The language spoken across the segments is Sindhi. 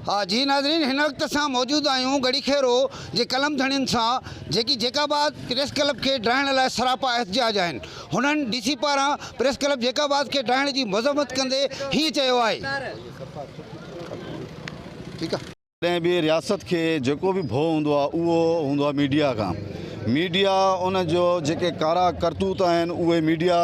ها جي ناظرين هن وقت اسان موجود آهيون ڳڙهي خيرو جي قلم ڌڻين سان جيڪي جيڪاباد پريس ڪلب کي ڊاهڻ لاء سراپا احتجاج آهن هنن ڊي سي پاران پريس ڪلب جيڪاباد کي ڊاهڻ جي مذمت ڪندي هيئن چيو آهي. ڪنهن به رياست کي جيڪو به ڀو هوندو آهي اهو هوندو آهي ميڊيا کان ميڊيا ان جو جيڪي ڪارا ڪرتوت آهن اهي ميڊيا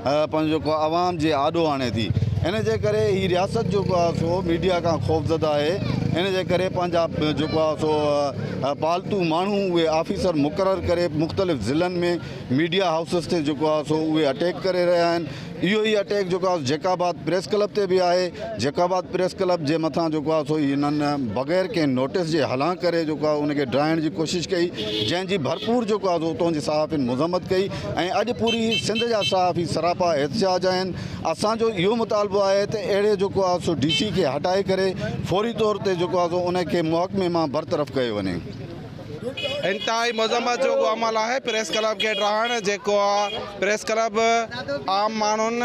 پنهنجو جيڪو عوام جي آڏو آڻي ٿي ان جي ڪري هي رياست جيڪو آهي سو ميڊيا کان خوفزده آهي ان جي ڪري پنهنجا جيڪو آهي سو پالتو ماڻهو اهي آفيسر مقرر ڪري مختلف ضلعن ۾ ميڊيا هائوسز تي جيڪو آهي سو اهي اٽيڪ ڪري رهيا آهن اهو ئي اٽيڪ جيڪو آهي جيڪ آباد پريس ڪلب تي به آهي جيڪ آباد پريس ڪلب جي مٿان جيڪو آهي سو هنن بغير ڪنهن نوٽس جي هلان ڪري جيڪو آهي ان کي ڊاهڻ جي ڪوشش ڪئي جنهن جي ڀرپور جيڪو آهي سو اتون جي صحافين مذمت ڪئي ۽ اڄ پوري سنڌ جا صحافي سراپا احتجاج آهن اسان جو اهو مطالبو آهي ته اهڙي جيڪو آهي سو ڊي سي کي هٽائي ڪري فوري طور تي جيڪو آهي سو ان کي محڪمي مان برطرف ڪيو وڃي انتهائي مذمت جوڳو عمل آهي پريس ڪلب کي ڊاهڻ جيڪو پريس ڪلب عام ماڻهن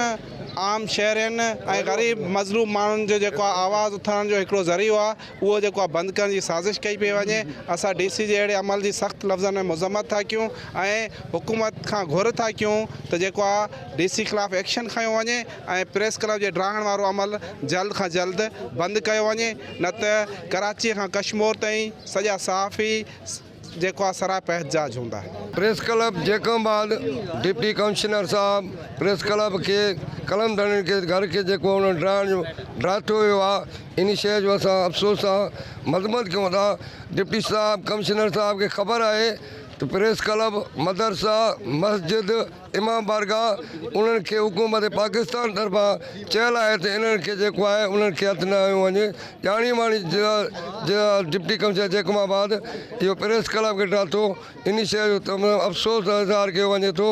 عام شهرين ۽ غريب مظلوم ماڻهن جو جيڪو آواز اٿارڻ جو هڪڙو ذريعو آهي اهو جيڪو آهي بند ڪرڻ جي سازش ڪئي پئي وڃي اسان ڊي سي جي اهڙي عمل جي سخت لفظن ۾ مذمت ٿا ڪيون ۽ حڪومت کان گهر ٿا ڪيون ته جيڪو آهي ڊي سي خلاف ايڪشن کنيو وڃي ۽ پريس ڪلب جي ڊاهڻ وارو عمل جلد کان جلد بند ڪيو وڃي نه ته ڪراچيء کان ڪشمور تائين سڄا صحافي جيڪو آهي سراپا احتجاج هوندا. Press club Jacobabad deputy commissioner صاحب پريس ڪلب کي قلم ڌڻين کي گهر کي جيڪو انهن ڊاهڻ جو ڊاٺو ويو آ انهي شيء جو اسان افسوس سان مذمت ڪيون ٿا ڊپٽي صاحب ڪمشنر صاحب کي خبر آهي ته پريس ڪلب مدرسا مسجد امام بارگاهه انهن کي حڪومت پاڪستان طرفان چيل آهي ته انهن کي جيڪو آهي انهن کي هٿ نه هنيو وڃي، ڄاڻي واڻي ضلع جي ڊپٽي ڪمشنر جيڪب آباد اهو پريس ڪلب کي ڊاتو انهي شيء جو تمام افسوس اظهار ڪيو وڃي ٿو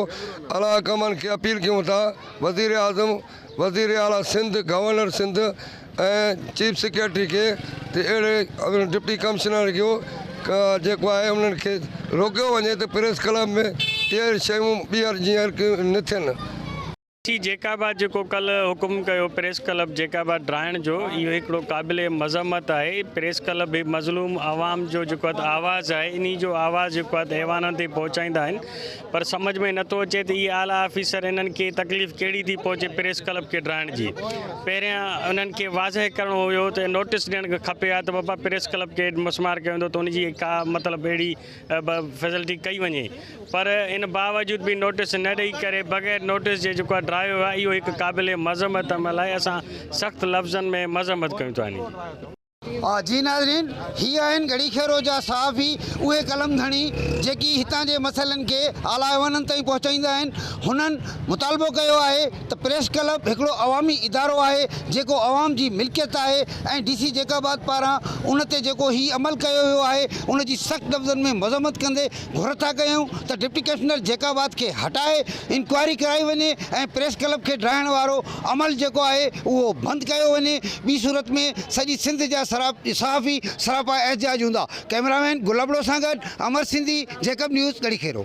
اعليٰ حڪامن کي اپيل ڪيون ٿا وزيراعظم وزير اعليٰ Sindh, governor Sindh ۽ chief secretary کي ته اهڙي ڊپٽي ڪمشنر جو جيڪو آهي انهن کي روڪيو وڃي ته پريس ڪلب ۾ اهڙيون شيون ٻيهر جيئر نه ٿين. سي جيڪب آباد جيڪو ڪلهه حڪم ڪيو پريس ڪلب جيڪب آباد ڊاهڻ جو اهو هڪڙو قابل مذمت آهي، پريس ڪلب به مظلوم عوام جو جيڪو آواز آهي انهي جو آواز جيڪو آهي ايوانن تائين پهچائيندا آهن، پر سمجهه ۾ نٿو اچي ته اهي اعليٰ آفيسر انهن کي تڪليف ڪهڙي ٿي پهچي پريس ڪلب کي ڊاهڻ جي. پهريان انهن کي واضح ڪرڻو هيو ته نوٽيس ڏيڻ کپي ها ته بابا پريس ڪلب کي مسمار ڪيو ويندو ته ان جي ڪا مطلب اهڙي فيسلٽي ڪئي وڃي پر ان باوجود به نوٽيس نه ڏئي ڪري بغير نوٽيس جي جيڪو آهي ڊاهيو ويو آهي اهو هڪ قابل مذمت عمل آهي اسان سخت لفظن ۾ مذمت ڪيون ٿا انهي جي ناظرين هي آهن گهڙي خيرو جا صحافي اهي قلم ڌڻي جيڪي هتان جي مسئلن کي اعليٰ ايوانن تائين پهچائيندا آهن هنن مطالبو ڪيو آهي ته پريس ڪلب هڪڙو عوامي ادارو آهي جيڪو عوام جي ملڪيت آهي ۽ ڊي سي جيڪب آباد پاران ان تي جيڪو هي عمل ڪيو ويو آهي ان جي سخت لفظن ۾ مذمت ڪندي گهر ٿا ڪيون ته ڊپٽي ڪمشنر جيڪب آباد کي هٽائي انڪوائري ڪرائي وڃي ۽ پريس ڪلب کي ڊاهڻ وارو عمل جيڪو آهي اهو بند ڪيو وڃي ٻي صورت ۾ سڄي سنڌ جا صحافي سراپا احتجاج هوندا ڪئميرا مين گل ابڙو سان گڏ امر سنڌي جيڪب نيوز ڳڙهي کيرو.